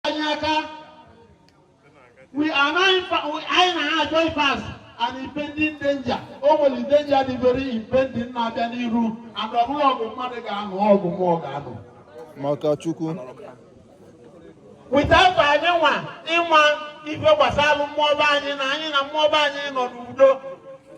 anyị aka we are now in fa- we- anyị na-achọ i face an impending danger o nwere danger dị very impending na-abịa n'iru and ọ bụrọ ọgụ mmadụ ga-anụ ọgụ mmụọ ga-anụ maka chukwu without anyị nwa ịma ife gbasalụ mmụọ be anyị na anyị na mmụọ be anyị nọ n'udo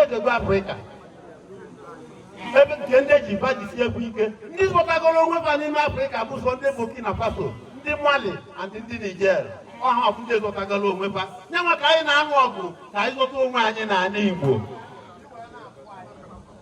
egegbu afrịka ebe nke ndị ji ba jisi egwu ike ndị zọtagoro onwe ba n'ime afrịka bụ sọ ndị burkina faso ndị mali and ndị niger ọ ha ka bụ ndị zọtagoro onwe ba nya nwa ka anyị na-anụ ọgụ ka anyị zọta onwe anyị n'anị igbo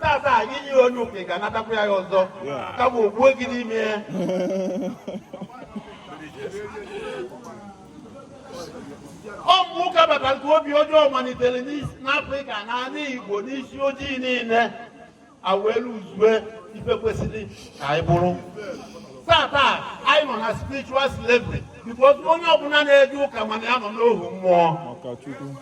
tata anyị nye onye ụka ga anatakwa ya ọzọ kama o gbuo gị n'ime ya ọ bụ ụka bata ka obi ọjọọ malitere n'afrịka na ala igbo n'isi ojii niile a wee luzue ife kwesịrị ka anyị bụrụ tata anyị nọ na spiritual slavery because onye ọbụla na-eje ụka ma na ya nọ n'ohu mmụọ